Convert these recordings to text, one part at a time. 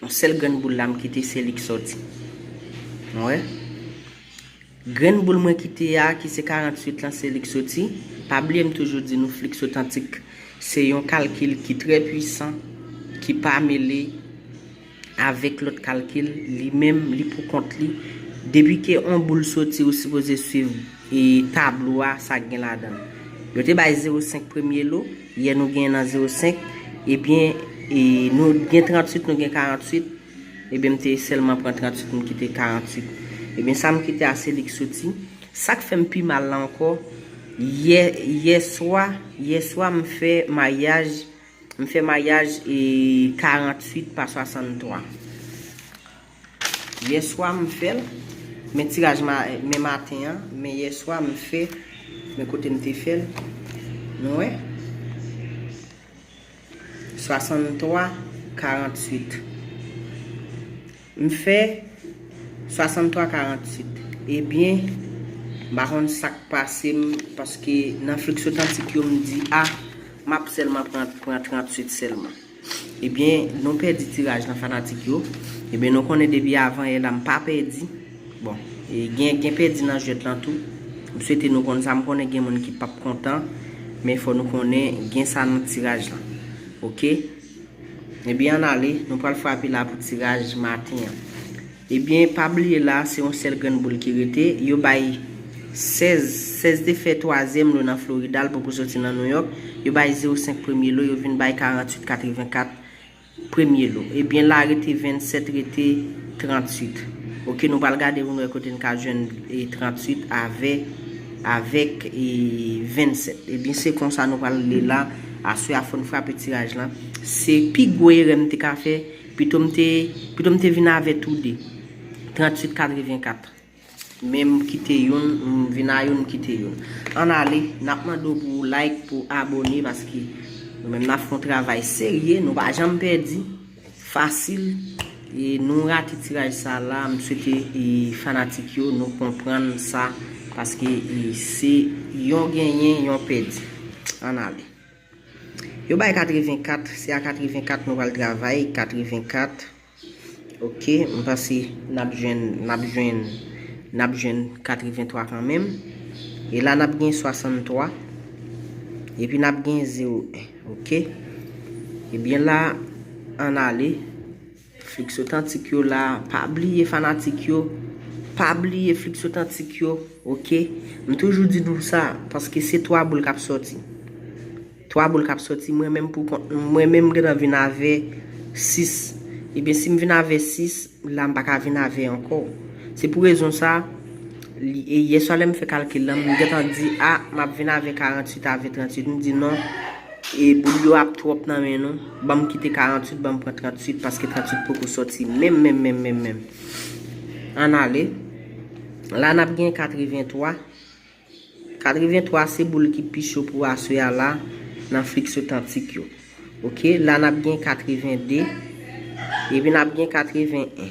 Yon sèl grenn boul la m kite se li k sòti. An wè. Grenn boul mwen kite a ki se 48 lan se li k soti. Pa bliye m toujou di nou fliks otantik se yon kalkil ki trè pwisan ki pa mele avèk lòt kalkil li menm li pou kont li. Depi ke on boul soti ou sipoze swiv tablo a sa gen ladan l. Yo te bay 0 5 premye lo. Yè nou gen nan 05, ebyen nou gen 38 nou gen 48, ebyen m te sèlman pran 38 m kite 48. Ebyen sa m kite a se li k soti. Sak fè m pi mal la ankò, yè yè swa, yè swa m fè maryaj, m fè maryaj 48 pa 63. Yèswa m fèl men tiraj men maten an men yèswa m fè men kote m te fèl nou wè 63 48 m fè 63 48 ebyen m pa konn sak pase m paske nan flux otantik yo m di a map sèlman pran 38 sèlman. Ebyen nou pèdi tiraj lan fanatik yo. Ebyen nou konnen depi avan yè la m pa pèdi. Bon e gen gen pèdi nan jwèt lan tou. M swete nou konn sa m konnen gen moun ki pap kontan men fò nou konnen gen sa nan tiraj lan ok. Ebyen an ale nou pral frape la pou tiraj maten an. Ebyen pa bliye la se yon sèl grenn boul ki rete, yo bay 16, 16 te fè twazyèm lo nan Florida l poko soti nan Nouyòk, yo bay 0 senk premye lo yo vin bay 48, 84 premye lo. Ebyen la rete 27 rete 38 ok nou pral gade pou nou wè kote n ka jwenn 38 avè avèk 27 ebyen se konsa nou pral li la aswè a fò n frape tiraj lan se pi gwo erè m te ka fè Pito m te Pito m te vin avè tou de. 38 84 Men m kite youn m vin a youn m kite youn Ann ale N ap mande w pou w like pou w abone paske nou menm n ap fè yon travay serye nou pa janm pèdi fasil e nou rate tiraj sa la m swete fanatik yo nou konprann sa paske se yon genyen yon pèdi Ann ale. Yo bay 84, se a 84 nou pral travay, 84 ok m panse n ap jwenn n ap jwenn n ap jwenn 83 kanmenm e la n ap gen 63 epi n ap gen 01 ok ebyen la an n ale. Flixotantik yo la pa bliye fanatik yo pa bliye flixotantik yo ok m toujou di nou sa paske se 3 boul kap soti 3 boul kap soti mwen menm pou kont mwen menm m gentan vin avè 6 ebyen si m vin avè 6 la m paka vin avè ankò se pou rezon sa yè swa lè m fè kalkil lan m gentan di a map vin avè 48 avè 38 m di non. E boul yo ap trop nan men nou. Banm kite 48 banm pran 38 paske 38 poko soti menm menm menm menm menm. Ann ale. La nap gen 83. 83 se boul ki pi cho pou aswe a la nan flix otantik yo. Ok la nap gen 82. Epi nap gen 81.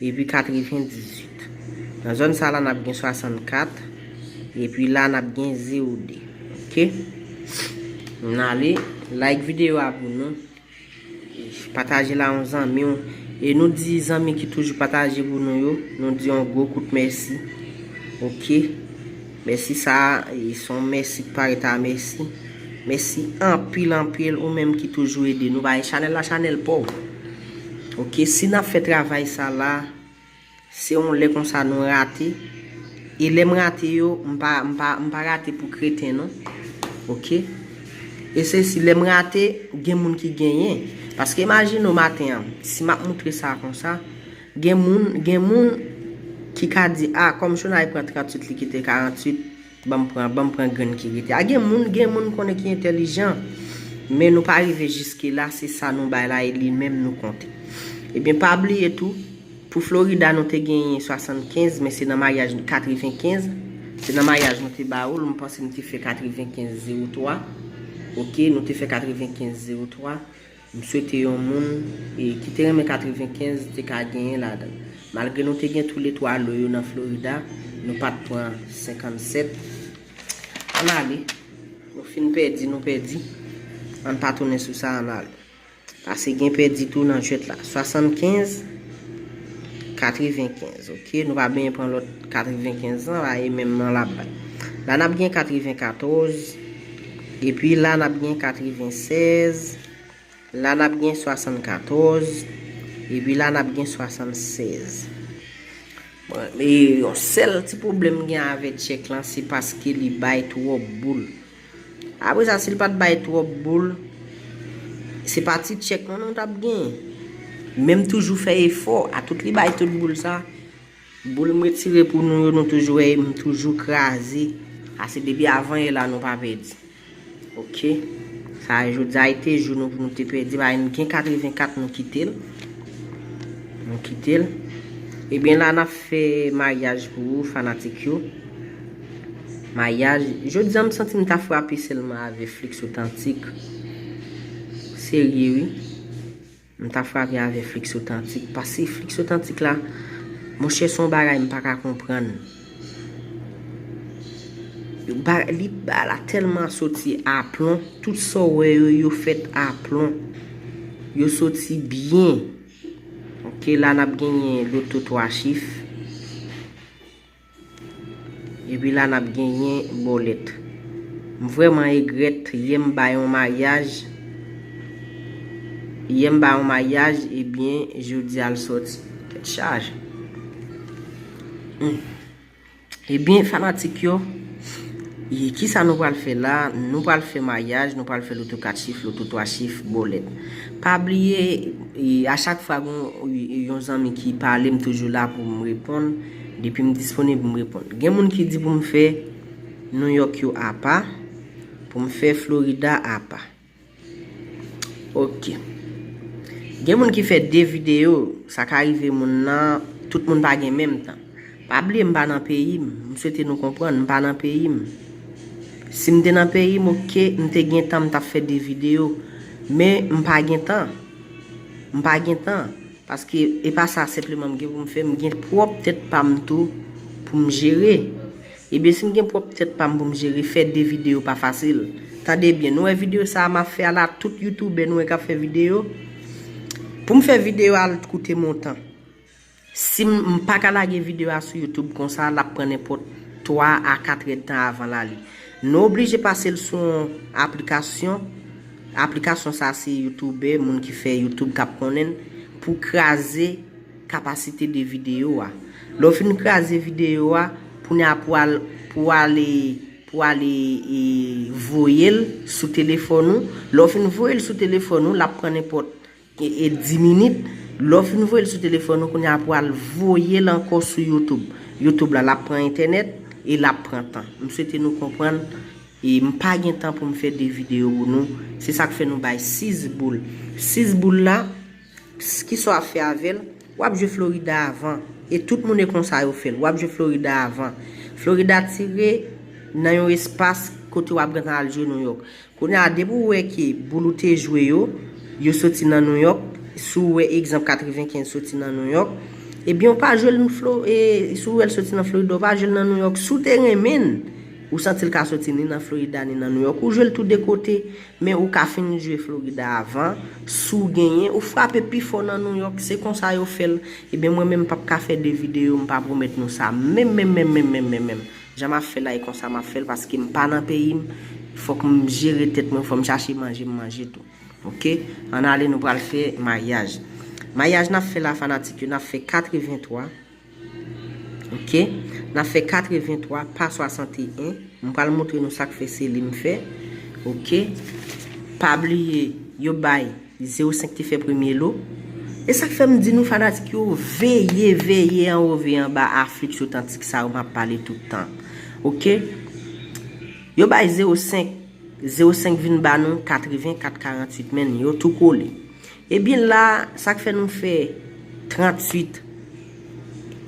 Epi 98. Nan zòn sa la n ap gen 64. Epi la n ap gen 0 2. Ok. N ale. Like videyo a pou nou. Pataje l a yon zanmi w. E nou di zanmi ki toujou pataje pou nou yo. Nou di yon gwo kout mèsi. Ok. Mèsi sa a. E s on mèsi k pa ret a mèsi. Mèsi anpil anpil ou menm ki toujou ede nou. Bay chanèl la chanèl pa w. Ok si nap fè travay sa la se yon lè konsa nou rate e lèm rate yo m pa m pa m pa rate pou kreten non ok e se si lèm rate gen moun ki genyen paske imajine w maten an si map moutre sa konsa gen moun gen moun ki ka di a kòm chonay pran 38 li kite 48 Banm pran banm pran grenn ki rete a gen moun gen moun konnen ki entèlijan men nou pa rive jiske la se sa nou bay la e li menm nou konte ebyen pa bliye tou pou Florida nou te genyen 75 men se nan maryaj 95 se nan maryaj nou te ba ou l m panse m te fè 95 03 ok nou te fè 95 03 M swete yon moun ki te renmen 95 te ka genyen ladan. Malgre nou te gen toule 3 lo yo nan Florida, nou pa t pran 57. Ann ale. Nou fin pèdi, nou pèdi. Ann pa tounen sou sa, ann ale. Pase gen pèdi tou nan jwèt la. 75, 95, ok. Nou pa benyen pran lòt 95 lan la e menm nan l ap bay. La n ap gen 94. Epi la n ap gen katrevennsèz, la n ap gen swasannkatòz, epi la n ap gen swasannsèz. Bon, e yon sèl ti pwoblèm m gen avè tchèk lan, se paske li bay twòp boul. Apre sa, si l pa t bay twòp boul, se pa ti tchèk non nou t ap gen. Menm toujou fè efò, atout li bay tout boul sa. Boul m retire pou nou yo nou toujou wè em toujou kraze. Sa se depi avan yè la nou pa pèdi ok sa jodia e te jou nou pou nou te pèdi paske nou gen 84 nou kitel nou kitel ebyen la nap fè maryaj pou ou fanatik yo maryaj jodia m santi m ta frape selman avè flix otantik serye wi. M ta frape avè flix otantik pase flix otantik la monchè son bagay m paka konprann li ba la tèlman soti aplon tout sa w wè yo yo fèt aplon yo soti byen ok la nap genyen loto 3 chif. Epi la nap genyen bolet. M vreman egret yè m bay yon maryaj yè m bay yon maryaj ebyen jodia l soti tet chaje humm ebyen fanatik yo kisa nou pral fè la nou pral fè maryaj nou pral fè loto 4 chif loto 3 chif bolet pa bliye a chak fwa gon yon zanmi ki pale m toujou la pou m reponn. Depi m disponib m reponn. Gen moun ki di pou m fè New York yo apa, pou m fè Florida apa. Ok. Gen moun ki fè 2 videyo, sa ka rive moun nan, tout moun pa gen menm tan. Pa bliye m pa nan peyi m, m swete nou konprann, m pa nan peyi m. Si m te nan peyi m ok, m te gen tan m t ap fè 2 videyo. Men m pa gen tan. M pa gen tan. Paske e pa sa senpleman m gen pou m fè, m gen pwòp tèt pa m tou pou m jere. Ebyen si m gen pwòp tèt pa m pou m jere, fè 2 videyo pa fasil. Tande byen, nou wè videyo sa a m ap fè a la, tout youtoubè nou wè k ap fè videyo, pou m fè videyo a al t koute m ontan. Si m, m pa ka lage videyo a sou youtoub konsa, l ap pran nenpòt 3 a 4 èdtan avan l ale. Nou oblije pase l sou yon aplikasyon, aplikasyon sa se youtoubè, moun ki fè youtoub kap konnen l, pou kraze kapasite de videyo a. Lè w fin kraze videyo a, kounye a pou al pou w ale pou w ale voye l sou telefòn ou, lè w fin voye l sou telefòn ou lap pran nenpòt e 10 minit lè w fin voye l sou telefòn ou kounya pou al voye l ankò sou youtube youtube la lap pran entènèt e lap pran tan m swete nou konprann e m pa gen tan pou m fè 2 videyo pou nou se sak fè nou bay 6 boul 6 boul la kisa w ap fè avè l wap jwe florida avan e tout moun e konsa yo fè l wap jwe florida avan florida tire nan yon espas kote wap gentan al jwe nouyòk. Kounye a depi ou wè ke boul ou te jwe yo, yo soti nan New York, si ou wè egzanp 95 soti nan New York, ebyen ou pa jwe l nan Flo, e si ou wè l soti nan Florida ou pa jwe l nan New York, si ou te renmen l, ou santi l ka soti ni nan Florida ni nan New York, ou jwe l tou 2 kote, men ou ka fin jwe Florida avan, si ou genyen, ou frape pi fò nan New York, se konsa yo fè l, ebyen mwen menm m pap ka fè 2 videyo m pa pwomèt nou sa menm menm menm menm menm menm menm. Jan map fè la e konsa map fèl paske m pa nan peyim fòk m jere tèt mwen fòm chache manje m manje tou ok ann ale nou pral fè maryaj maryaj nap fè la fanatik yo nap fè 83 ok nap fè 83 pa 61 m pral moutre nou sak fè se li m fè ok pa bliye yo bay. Zero senk te fè premye lo. E sak fèm di nou fanatik yo veye veye anwo veye anba aflix otantik sa yo map pale tout tan ok yo bay zero senk zero senk vin ba nou katreven kat karantwit menn yo tou kole ebyen la sak fè nou fè trantwit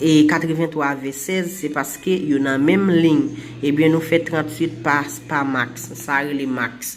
e katreven twa vè sèz se paske yo nan menm lign ebyen nou fè trantwit pa max sa rele max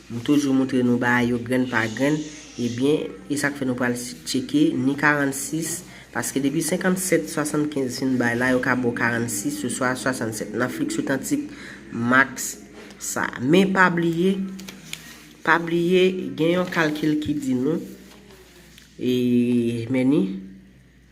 M toujou moutre nou bagay yo grenn pa grenn, ebyen e sak fè nou pral tcheke ni 46, paske depi 57, 75 fin bay la yo ka baw 46 oswa 67 nan flix otantik max sa. Men pa bliye, pa bliye gen yon kalkil ki di nou, e meni.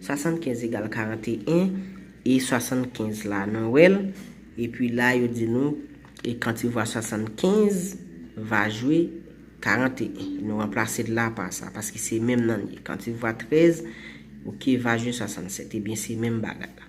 75 egal 41, e 75 la nou wè l, epi la yo di nou, e kan ti vwa 75 va jwe 41, nou ranplase l la pa sa, paske se menm nan l ye, kan ti vwa 13, ok, va jwe 67, ebyen se menm bagay la.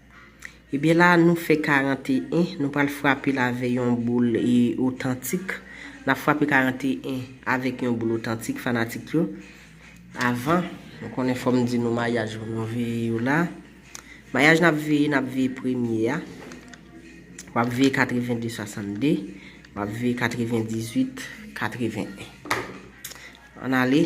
Ebyen la nou fè 41, nou pral frape l avè yon boul otantik. N ap frape 41 avèk yon boul otantik fanatik yo. Avan, nou konnen fò m di nou mayaj yo nou veye yo la. Mayaj n ap veye, n ap veye premye a. W ap veye 82 62, w ap veye 98 81. An ale.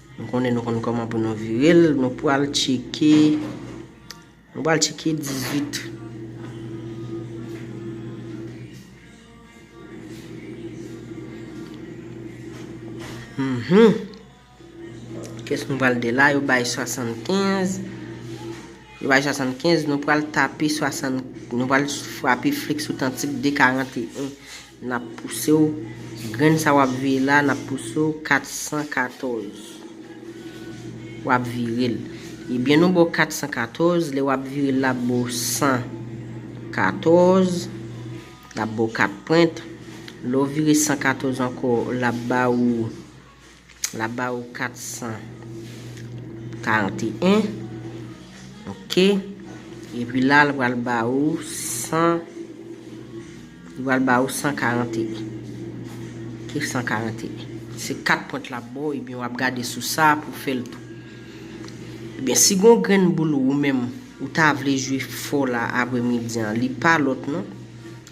Nou konnen nou konn koman pou nou virel nou pwal tcheke nou pwal tcheke 18. Mhmm kès nou pwal de la yo bay 75 yo bay 75 nou pwal tape 60 nou pwal frape fliks otantik de 41. Nap pouse w Grenn sa wap veye la nap pouse w 414 Wap vire l Ebyen nou ba w 414 Lè wap vire l la ap ba w 114 Lap ba w 4 pwent Lè w vire 114 ankò lap ba ou L ap ba ou 441. Ok. Epi la l pral ba ou 100. Li pral ba ou 141. Ok, 141. Se 4 pwent l ap ba ou ebyen w ap gade sou sa pou fè l tou. Ebyen si gon grenn boul ou menm ou ta vle jwe fò la apremidi an li pa lòt non.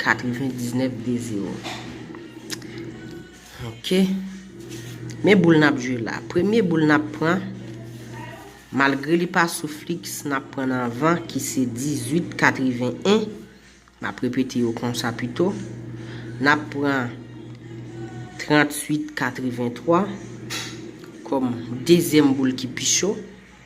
99 de 0 Ok Men boul nap jwe la Premye boul nap pran Malgre li pa sou fliks Nap pran nan van ki se 18 81 Map repete yo konsa pito Nap pran 38 83 Kom dezyem boul ki pi cho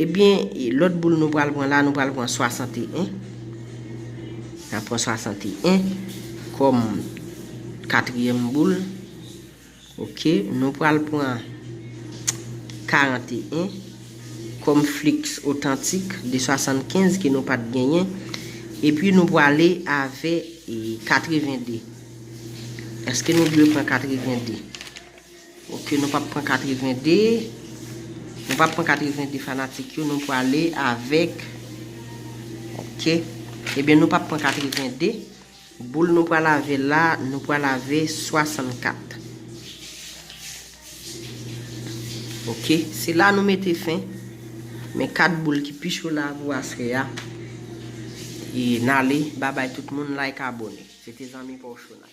Ebyen lòt boul nou pral pran la nou pral pran 61 na pran 61 kòm katriyèm boul ok nou pral pran 41 kòm flix otantik de 75 ke nou pat genyen epi nou prale avè 82 eske nou dwe pran 82. Ok nou pap pran 82 Nou pap pran 82 fanatik yo nou prale avèk Ok Ebyen nou pap pran 82 Boul nou prale avè la nou prale avè 64 Ok se la nou mete fen Men 4 boul ki pi cho la pou aswè a E nale babay tout moun like abone Se te zanmi paw Shonay.